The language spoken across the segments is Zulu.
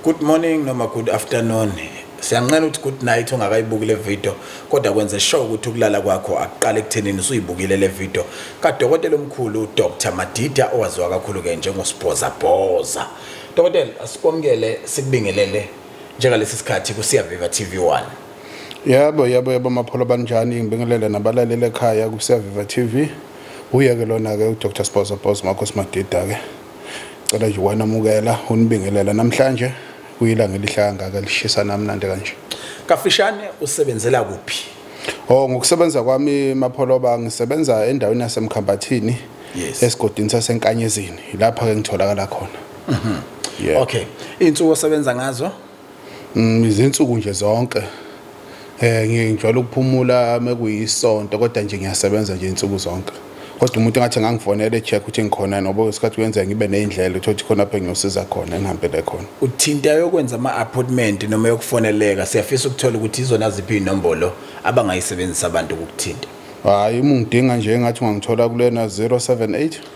Good morning noma good afternoon. Siyanqena ukuthi good night ungakayibuki le video kodwa kwenze sure ukuthi ukulala kwakho akuqale ekuthenini usuyibukile le video kadokotela omkhulu Dr Madida owaziwa kakhulu ke njengosibhoza bhoza. Dokotela asikwamukele sikubingelele njengalesi sikhathi kusiya Viva TV1. Yebo yebo yebo mapholo banjani ngibingelele nabalaleli ekhaya kusiya Viva TV. Uye ke lona ke uDr Sibhoza Bhoza makho simadida ke. Cela nje wanamukela unibingelela namhlanje kuyilanga elihlaya kangaka lishisa namnandi kanje. Kafishane usebenzela kuphi? Oh ngokusebenza kwami Mapholoba ngisebenza endaweni yaseMkhambathini yes. esigodini saseNkanyezini lapha ke ngitholakala khona. Mhm. Mm yeah. Okay. Insuku osebenza ngazo? Mm, izinsuku nje zonke eh ngijwayele ukuphumula mekuyisonto kodwa nje ngiyasebenza nje insuku zonke kodwa umuntu engathi ngangifonela echeck ukuthi ngikhona noba isikhathi kuyenzeka ngibe neyindlela ukuthi khona phe ngiyosiza khona engihambele khona uthinta yokwenza ama appointment noma yokufoneleka siyafisa ukuthola ukuthi izona ziphi inombolo abangayisebenzisa abantu ukuthinta hayi uma ungidinga nje engathi ungangithola kulena 078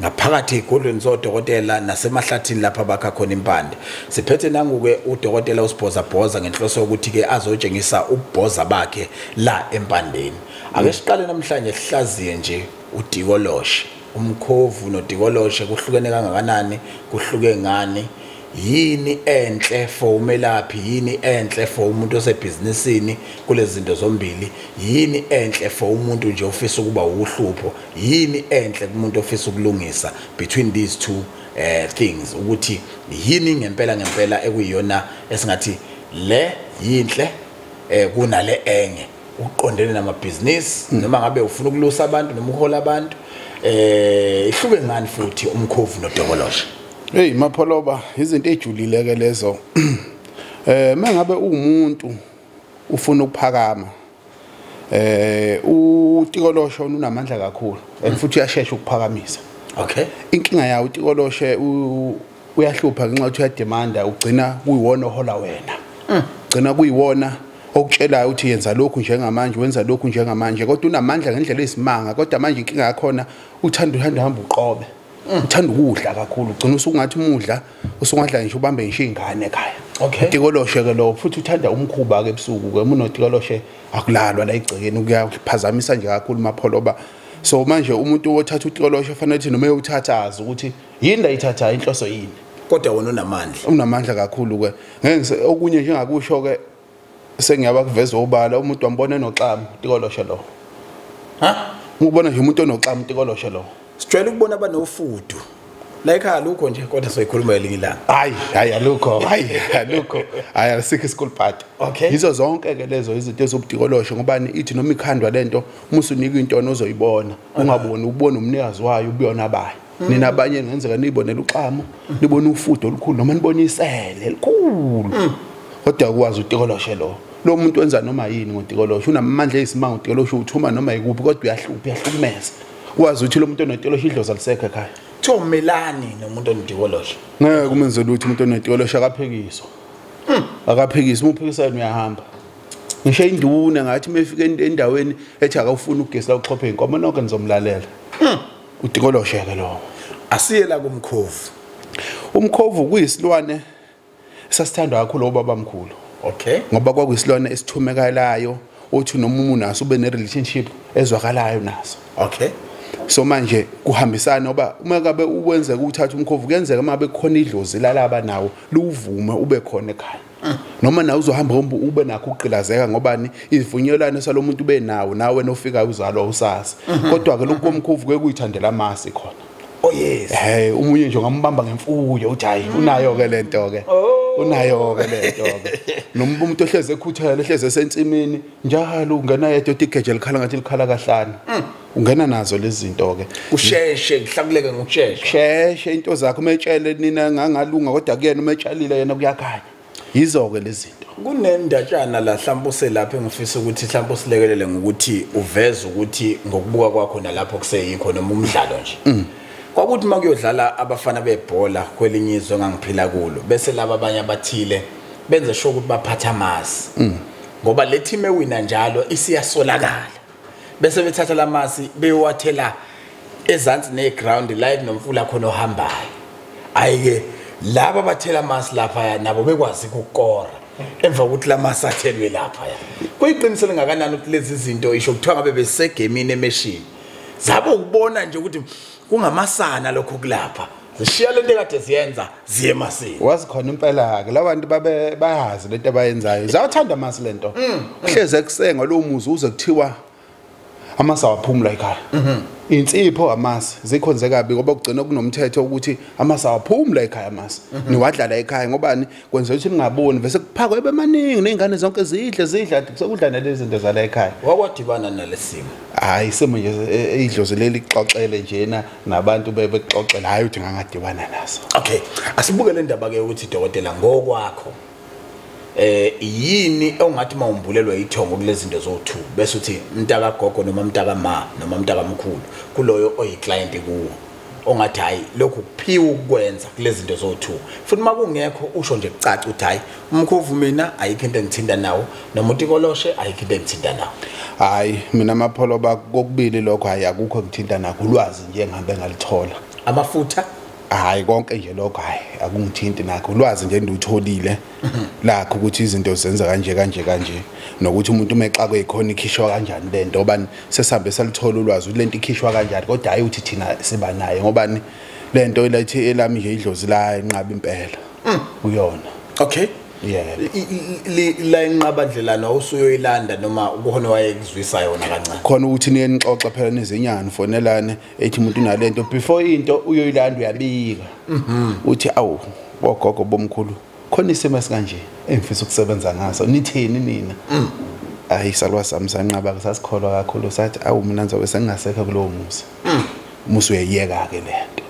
ngaphakathi ezigodlweni zodokotela nasemahlathini lapha bakha khona impande siphethe nangu-ke udokotela usibhozabhoza ngenhloso yokuthi-ke azotshengisa ububhoza bakhe la empandeni ake siqale namhlanje sihlaziye nje udikoloshe umkhovu nodikoloshe kuhlukene kangakanani kuhluke ngani yini enhle for umelaphi yini enhle for umuntu osebhizinisini kulezi zinto zombili yini enhle for umuntu nje ofisa ukuba wuhlupho yini enhle kumuntu ofisa ukulungisa between these two uh, things ukuthi yini ngempela ngempela ekuyiyona esingathi le yinhle eh kunale enye uqondene namabhizinisi hmm. noma ngabe ufuna ukulusa abantu noma uhola abantu eh ihluke ngani futhi umkhovu nodokoloshe Hey mapholoba izinto ejulile ke lezo. Eh mengabe umuntu ufuna ukuphakama eh utikolosho unamandla kakhulu and futhi uyashesha ukuphakamisa. Okay. Inkinga yawo utikolosho uyahlupha ngenxa ukuthi uyademanda ugcina kuyiwona ohola wena. Mm. Gcina kuyiwona okutshelayo ukuthi yenza lokhu njengamanje wenza lokhu njengamanje kodwa unamandla ngendlela ezisimanga kodwa manje inkinga yakhona uthanda uhamba uhamba uqobe. uthanda ukudla kakhulu ugcina usukungathi umudla usungadla ngisho ubambe ngisho ingane ekhaya okay tikoloshe ke lo futhi uthanda umkhuba ke ebusuku ke umuntu otikoloshe akulalwa la igcekeni kuyaphazamisa nje kakhulu mapholoba so manje umuntu othatha utikoloshe ufanele ukuthi noma eyothathaza ukuthi yini la ithatha inhloso yini kodwa wona unamandla unamandla kakhulu ke ngeke okunye njengakusho ke sengiyaba kuveza obala umuntu wambona enoxamu tikoloshe lo ha ngikubona nje umuntu onoxamu tikoloshe lo sijwayele ukubona abanofudu la ekhaya lukho nje kodwa soyikhuluma elinye ilanga hayi hayi alukho hayi alukho hayi asikho school party okay yizo zonke ke lezo izinto ezobudikolosho ngobani ithi noma ikhandwa lento uma usunika into ozoyibona ungaboni ubona umnikazi wayo ubuyona bayo nina abanye ngenzeka niyibonela uxamo nibona ufudo olukhulu noma nibona isele elikhulu mm. kodwa ukwazi utikoloshe lo lo muntu wenza noma yini ngotikoloshe unamandla eyisimanga utikoloshe uthuma noma yikuphi kodwa uyahlupha uyahlukumeza wazi ukuthi lo muntu onetikoloshe idlozi alisekho ekhaya kuthiwa umelani nomuntu onetikoloshe ngeke umenze lutho umuntu onetikoloshe akaphikiswa mm. akaphikiswa uma uphikisa yena uyahamba ngisho induna ngathi uma efika endaweni ethi akawufuni ugesi la uxhophe inkomo nonke nizomlalela mm. utikoloshe ke lowo asiye la kumkhovu umkhovu kuyisilwane sasithandwa kakhulu obaba mkhulu okay ngoba kwakuyisilwane esithumekalayo othi noma umuntu naso ube ne relationship ezwakalayo naso okay so manje kuhambisana ngoba uma kabe ukwenzeka ukuthatha umkhovu kuyenzeka uma bekhona idlozi lalaba nawo luwuvume ube khona ekhaya noma nawe uzohamba hamba ube nakho ukugqilazeka ngobani izivunyelwano salomuntu ube nawo nawe nofikayo uzalwa usasa mhm. kodwa ke lokho komkhovu ke kuyithandela amasi khona oh yes hey umunye nje ngambamba ngemfuyo uthi hayi mhm. unayo ke lento ke oh. unayo ke lento ke noma umuntu ohleze ekhuthele ehleze sensimini njalo ungena yedwa uthi geje likhala ngathi likhala kahlani mm. ungena nazo lezi zinto ke usheshe ngihlakuleke ngokushesha sheshe into zakho umetshele nina ngangalunga kodwa kuyena umetshalile yena kuyakhanya yizo ke lezi zinto kunendatshana la mhlawumbe uselapha engifisa ukuthi mhlawumbe usilekelele ngokuthi uveze ukuthi ngokubuka kwakho nalapho kuseyikho noma umdlalo nje mm. kwakuthi uma kuyodlala abafana bebhola kwelinye izwe engangiphila kulo bese laba abanye abathile benze sho ukuthi baphatha amazi mm. ngoba le team ewina njalo isiyasolakala bese bethatha lamasi beyowathela ezansi neground la ekunomfula khona ohambayo ayike laba bathela amasi lapha nabo bekwazi ukukora emva kokuthi lamasi athelwe lapha kuyiqiniso lingakanani ukuthi lezi zinto isho kuthiwa ngabe besegemini emeshini zabo ukubona nje ukuthi kungamasana lokho kulapha zishiya lento ekade ziyenza ziye emasini wazi khona impela ke labantu babe bayazi lento abayenzayo zawathanda amasi lento mm, mm. kuhleze kusenga lo muzi uze kuthiwa amasi awaphumula ekhaya mhm. insipho amasi zikhonze kabi ngoba kugcina kunomthetho ukuthi amasi awaphumula ekhaya amasi mhm. niwadlala ekhaya ngobani kwenza ukuthi ningaboni vese kuphakwa ebemaningi nezingane zonke zidle zidla sekudla nalezi zinto zala ekhaya wakwadibana nalesimo hayi isimo nje idlozi e, leli xoxele njena nabantu bebexoxela hayi uthi ngangadibana naso okay asibuke le ndaba ke ukuthi dokotela ngokwakho eh yini ongathi mawumbulelwa ithongo kulezi zinto zowu2 bese uthi mntaka gogo noma mntaka ma noma mntaka mkhulu kuloyo oyiclient kuwo ongathi hayi lokhu kuphiwa ukwenza kulezinto zo2 futhi makungekho usho nje kucaca uthi hayi umkhovu mina ayikho into engithinta nawo nomuntu ikoloshe ayikho into engithinta nawo hayi mina amapholo bakokubili lokho hayi akukho ngithinta nakho ulwazi nje ngihambe ngalithola amafutha hayi konke nje lokho hayi akungithinti nakho ulwazi nje ndutholile lakho ukuthi izinto zenza kanje kanje kanje nokuthi umuntu uma exakwe yikhona ikhishwa kanjani le nto obani sesambe salithola ulwazi ukuthi le nto ikhishwa kanjani kodwa hhayi ukuthi thina siba nayo ngobani le nto ilathi elami nje idlozi la inqaba impela mm. uyona okay la inqabandlelana usuyoyilanda noma kukhona wayekuzwisa yona kancane khona ukuthi niyenixoxa phela nizenyani fonelane ethi umuntu unalento before into uyoyilanda uyabika mhm. uthi awu bogogo bomkhulu khona isimo esikanje engifisa ukusebenza ngaso nithini nina mm. ayi salwa sami sanqaba kusasikholwa kakhulu sathi awu mina ngizobe sengingasekho kulowo musa mm. musa uyeyeka ke lento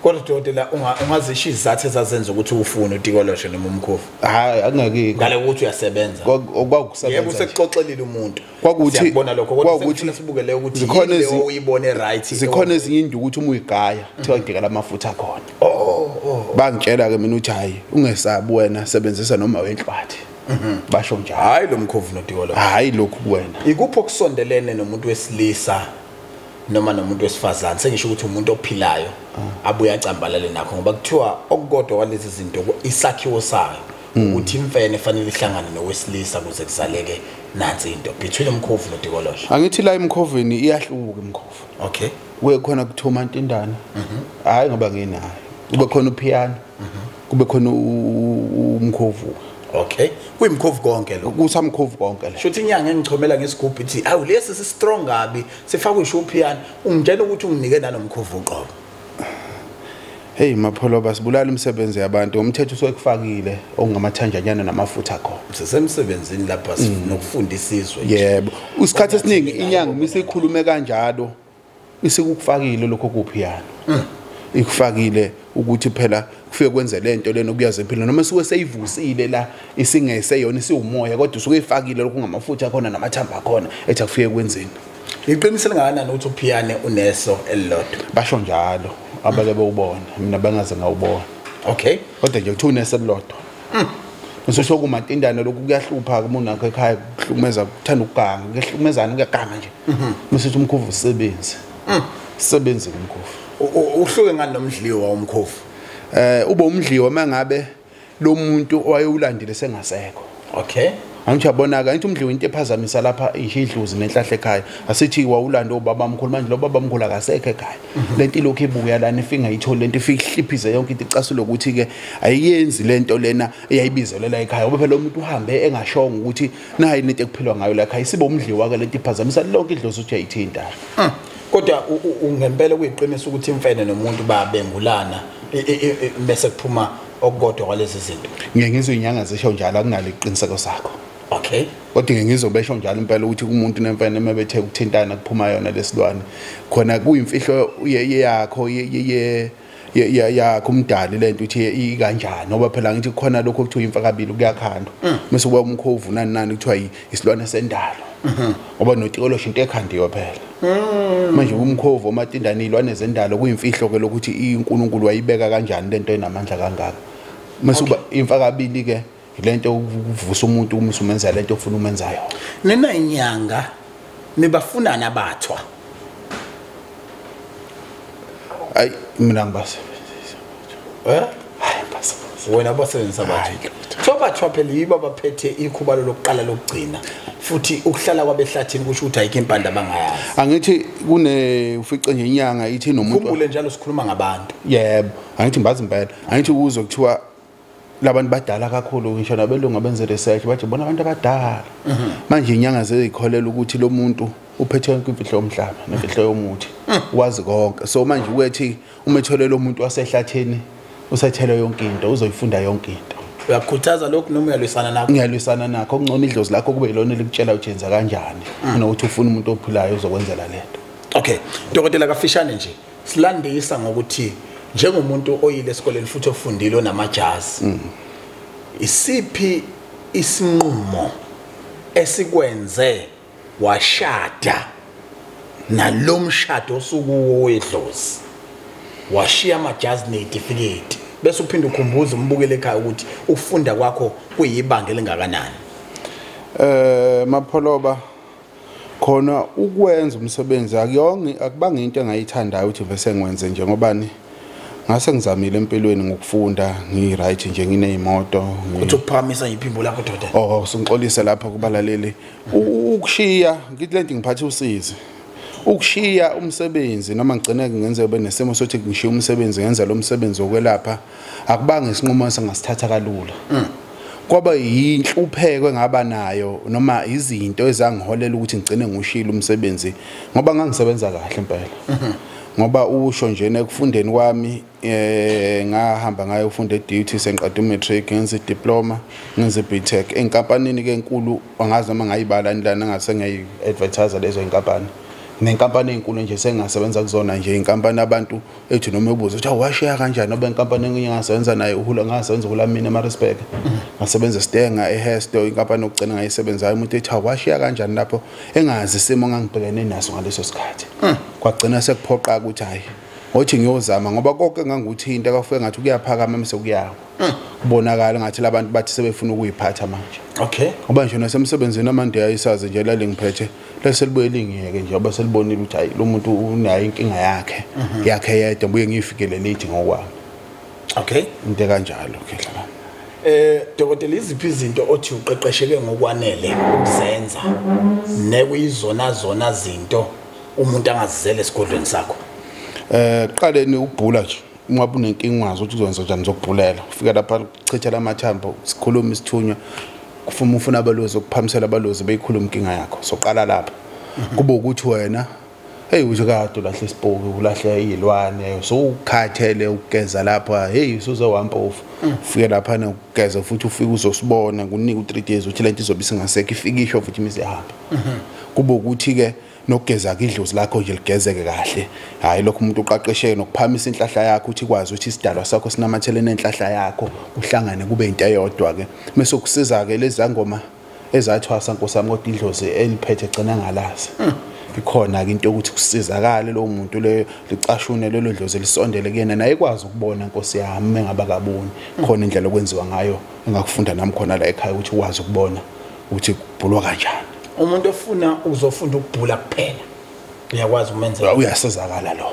kodwa dokotela ungazisho izathu ezazenza ukuthi ufune utikoloshe noma umkhovu hayi akungakikho ngale ukuthi uyasebenza kwakusebenza yebo usekuxoxelile umuntu kwakuthi siyakubona lokho kodwa kwakuthi sibuke le ukuthi zikhona ezinye uyibone right zikhona ezinye indu ukuthi uma uyigaya kuthiwa ngideka lamafuta akhona oh, oh, oh. bangitshela ke mina uthi hayi ungesabi wena sebenzisa noma wenhlwathi mhm. basho njalo hayi lo mkhovu nodikolo hayi lokhu kuwena ikuphi okusondelene nomuntu wesilisa noma nomuntu wesifazane sengisho ukuthi umuntu ophilayo ah. abuye acambalale nakho ngoba kuthiwa okukodwa kwalezi zinto isakhiwo sayo hmm. ukuthi imfene fanele ihlangane nowesilisa kuze kuzaleke nansi into between umkhovu notikolosha angithi la imkhoveni iyahluka imkhovu okay we khona kuthoma intindana mhm. hayi ngoba nginayo kube khona upiano mhm. kube khona umkhovu okay kuyimkhovu konke lo kusamkhovu konke la shothi inyanga engichomela ngesigubhu ithi awu lesi si strong kabi sifakwe ishupiano ungitshela ukuthi unginike nanomkhovu uqobo Hey mapholo basibulala umsebenzi yabantu umthetho usekufakile okungamathanjanyana namafutha akho. Sisemsebenzini lapha mm. nokufunda isizwe. Yebo. Usikhathi esiningi inyanga uma isikhulume kanjalo isikukufakile lokho kuphi yana. Mm. Ikufakile ukuthi phela kufike kwenze lento lena okuyazi empilweni noma suke seyivusile la isingese yona isiwumoya kodwa usuke ifakile lokho ngamafutha khona namathamba khona ethi akufike kwenzeni. Iqiniso lingakanani ukuthi uphiyane uneso elilodwa? Basho njalo abake bewubona mina bengaze ngawubona. Okay. Kodwa nje kuthiwa uneso elilodwa. Mm. Ngisho kumatindana lokhu kuyahlupha umuntu wakhe ekhaya kuhlukumeza kuthanda ukuganga kuyahlukumezana kuyaganga nje. Mhm. Msethi umkhovu usebenze. Mm. Sebenze umkhovu. Uhluke ngani nomdliwa umkhovu? Eh ube umdliwa mangabe lo muntu owayewulandile sengasekho okay angithi uyabonaka angithi umdliwa into ephazamisa lapha isho idluzi nenhlahla ekhaya asithi wawulanda ubaba mkhulu manje lo baba mkhulu akasekho ekhaya mhm. lento ilokhu ibuya lana ifinga ithole lento ifika ihliphize yonke into icasule ukuthi ke ayiyenzi lento lena eyayibizelela ekhaya ngoba phela umuntu uhambe engashongo ukuthi nayi lento ekuphilwa ngayo la ekhaya isibe umdliwa ke lento iphazamisa lonke idlozi uthi ayithinta hmm. kodwa ngempela kuyiqiniso ukuthi imfene nomuntu babengulana bese kuphuma okukodwa kwalezi zinto ngeke ngizwe inyanga zisho njalo akunalo iqiniseko sakho okay kodwa ngeke ngizobesho njalo impela ukuthi kumuntu nemfene uma bethe ukuthintana kuphuma yona lesilwane khona kuyimfihlo yakho ye yakho umdali le nto uthi ikanjani ngoba phela ngithi khona lokho okuthiwa imfakabili kuyakhandwa mm. mese kuba umkhovu nani nani kuthiwa isilwane sendalo mm-hmm. ngoba notikolosho into ekhandiwe phela mm. manje umkhovu omatindane iy'lwane zendalo kuyimfihlo ke lokuthi unkulunkulu wayibeka kanjani le nto enamandla kangaka mese uba imfakabili-ke lento ukuvusa umuntu uma usumenza lento ofuna umenzayo nina inyanga nibafunana abathwa ay mina ngibasebenzisa eh hayi basebenzisa wena basebenzisa abathwa sobathwa phela yibo abaphethe ikhubalo lokuqala lokugcina futhi ukuhlala kwabehlathini kusho ukuthi ayikho impanda abangayazi angithi kune ufice nje inyanga ithi nomuntu khumbule njalo sikhuluma ngabantu yebo angithi mbazi impela angithi kuzo kuthiwa labantu badala kakhulu ngisho nabelungu abenze research bathi bona abantu abadala mhm. manje inyanga zezikholela ukuthi lo muntu uphethe yonke imfihlo yomhlaba nemfihlo yomuthi mhm. wazi konke so manje ukethi uma etholela umuntu wasehlathini usethele yonke into uzoyifunda yonke into uyakhuthaza lokhu noma uyalwisana nakho ngiyalwisana nakho okungcono idlozi lakho kube yilona elikutshela ujenza kanjani mhm. kunokuthi ufuna umuntu ophilayo uzokwenzela lento okay dokotela kafishane nje silandisa ngokuthi njengomuntu oyile esikoleni futhi ofundile onamajazi mm. isiphi isinqumo esikwenze washada nalomshado osukuwo wedlozi washiya amajazi netifiketi bese uphinde ukhumbuza umbukele ekhaya ukuthi ukufunda kwakho kuyibanga elingakanani eh mapholoba khona ukwenza umsebenzi akuyongi akubanga into engayithandayo ukuthi vese ngwenze nje ngobani ngase ngizamile empilweni ngokufunda ngiyi-right nje ngineyimoto uthi ukuphakamisa yiphimbo lakho doda oh singixolise lapha kubalaleli ukushiya ngithi le nto ngiphathe usizi ukushiya umsebenzi noma ngigcine ngenze ube nesimo sokuthi ngishiya umsebenzi ngenza lo msebenzi wokwelapha akubanga isinqumo esingasithatha kalula mm. kwaba yinhlupheko engaba nayo noma izinto ezangiholela ukuthi ngigcine ngushilo umsebenzi ngoba ngangisebenza kahle impela mhm. ngoba usho nje nekufundeni kwami eh ngahamba ngayo ufunda e-duty sengiqeda u-matric ngenza i-diploma ngenza i-btech enkampanini ke enkulu angazi noma ngayibala nilana ngase ngiyayi-advertise lezo inkampani nenkampani enkulu nje sengasebenza kuzona nje inkampani abantu ethi noma ebuza ukuthi awashiya kanjani noba inkampani enginye ngasebenza naye uhula ngasebenza uhulamini emarisburg ngasebenza esitenga ehesto inkampani yokugcina ngayisebenzayo umuntu ethi awashiya kanjani lapho engazi isimo ngangibhekene naso ngaleso sikhathi hmm. kwagcina sekuphoqa ukuthi hhayi ngothi ngiyozama ngoba konke ngangikuthinta kwafuke ngathi kuyaphakama mse kuyawa hmm. kubonakala ngathi labantu bathi sebefuna ukuyiphatha manje okay ngoba nje nasemsebenzini amande ayisazi nje lalengiphethe bese libuye lingiyeke nje bese libonile ukuthi hayi lo muntu unayo inkinga yakhe mhm. yakhe yedwa buye ngifikele late ngokwami okay into kanjalo okay dlala eh dokotela iziphi izinto othi uqeqesheke ngokwanele ukuzenza nekuyizona zona zinto umuntu angazizele esigodlweni sakho eh qale ni ukubhula nje ungabe unenkinga wazi ukuthi uzokwenza njani zokubhulela ufika lapha kuchithela amathambo sikhulume isithunywa kufuma ufuna abalozi ukuphamisela abalozi beyikhuluma inkinga yakho soqala lapha mhm. kube ukuthi wena hey uthi kade ulahle isipoki ulahle izilwane so ukhathele ukugeza lapha hey usuze wampofu mm. ufike lapha nokugeza futhi ufike uzosibona kunika u3 days uthi lento izobe singasekho ifike isho futhi imize hamba mhm. kube ukuthi ke nokugeza idlozi lakho nje ligezeke kahle hayi lokho umuntu uqaqesheke nokuphamisa inhlahla yakho uthi kwazi ukuthi isidalwa sakho sinamathele nenhlahla yakho uhlangane kube into eyodwa ke mase kusiza ke lezangoma ezathwasa nkosami kodwa idlozi eliphethe gcina ngalazi hmm. ikhona ke into ukuthi kusizakale lo muntu le licashune lelo dlozi lisondele kuyena naye ikwazi ukubona nkosi yami mengaba kaboni hmm. khona indlela okwenziwa ngayo engakufunda nami khona la ekhaya ukuthi ukwazi ukubona ukuthi kubhulwa kanjani umuntu ofuna uzofunda ukubhula kuphela uyakwazi umenzela uyasizakala lo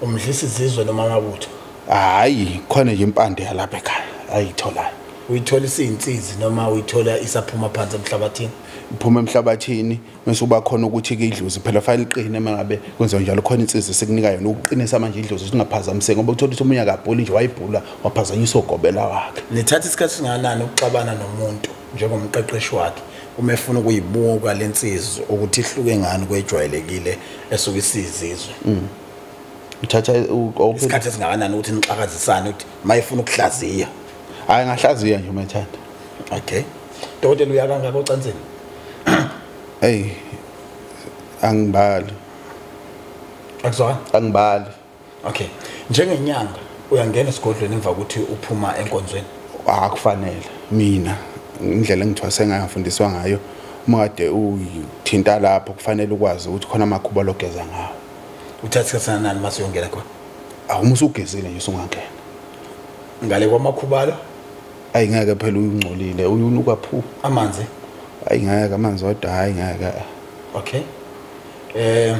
umdlisa izizwe noma amabutho hayi khona nje impande yalapha ekhaya ayitholayo uyithola isinsizi noma uyithola isaphuma phansi emhlabathini iphuma emhlabathini mase uba khona ukuthi ke idlozi phela file iqine mangabe kwenziwa njalo khona insizi sekunika yona ukuqinisa manje idlozi singaphazamiseki ngoba uthola ukuthi umunye akabhuli nje wayibhula waphazanyisa ugobela wakhe nithatha isikhathi singanani ukuxabana nomuntu njengomqeqeshi wakhe uma efuna ukuyibuka le nsizwa ukuthi ihluke ngani kwejwayelekile esuke isizizwe mm. uthatha isikhathi esingakanani ukuthi nixakazisane ukuthi uma efuna ukuhlaziya hayi ngahlaziya nje uma ethanda okay dokotela uya kangaka ocansini eyi angibali akuzona angibali okay njengenyanga uyangena esigodlweni emva ukuthi uphuma enkonzweni akufanele mina indlela engithwase ngayo ngifundiswa ngayo uma kade uthinta lapho kufanele ukwazi ukuthi khona amakhuba logeza ngawo uthatha isikhathi sanani uma siyongena khona awuma usugezile nje usungangena ngale kwamakhubalo ayi ngeke phela uyungcolile uyunuka phu amanzi ayi ngeke amanzi wadwa hayi ngeke okay eh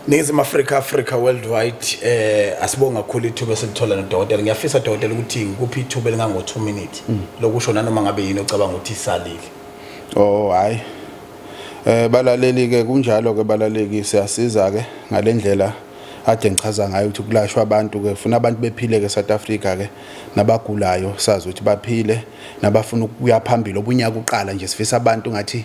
Ningizimu Afrika Africa worldwide eh asibonga kakhulu ithuba esilithola nodokotela ngiyafisa dokotela ukuthi ngikuphi ithuba elingango 2 minutes mm. lokusho nanoma ngabe yini ocabanga ukuthi isalile Oh hayi eh balaleli ke kunjalo ke balaleki siyasiza ke ngalendlela ade ngichaza ngayo ukuthi kulashwa abantu ke funa abantu bephile ke South Africa ke nabagulayo sazi ukuthi baphile nabafuna ukuya phambili obunyaka uqala nje sifisa abantu ngathi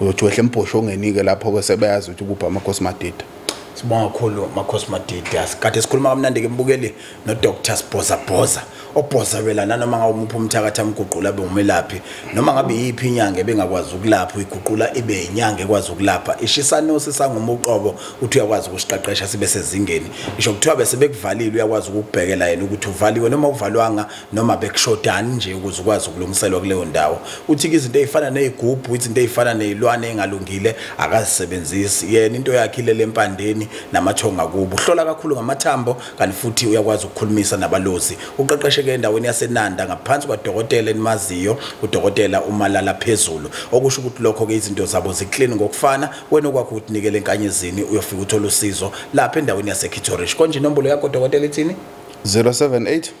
uyothi wehle embhoshongeni-ke lapho-ke sebeyazi ukuthi kuphi amakhosi madida sibonga kakhulu makhosi madidi asikade sikhuluma kamnandi-ke mbukeli nodr sibhozabhoza obhozabela nanoma ngabe umuphi umthakathi amguqula abe umelaphi noma ngabe yiphi inyanga ebengakwazi ukulapha uyiguqula ibe yinyanga ekwazi ukulapha ishisanosi sangumuqobo ukuthi uyakwazi ukusiqeqesha sibe sezingeni isho kuthiwa bese bekuvalile uyakwazi ukukubhekela yena ukuthi uvaliwe noma uvalwanga noma bekushodani nje ukuze ukwazi ukulungiselwa kuleyo ndawo uthi ke izinto ezifana nezigubhu izinto ezifana nezilwane engalungile akazisebenzisi yena into yakhe ile lempandeni namathonga kubo uhlola kakhulu ngamathambo kanti futhi uyakwazi ukukhulumisa nabalozi uqeqesheke endaweni yaseNanda ngaphansi kwadokotela enimaziyo udokotela uMalala phezulu okusho ukuthi lokho ke izinto zabo ziclean ngokufana wena okwakho utinikele enkanyezini uyofika uthola usizo lapha endaweni yaseKithorish konje inombolo yakho dokotela ithini 078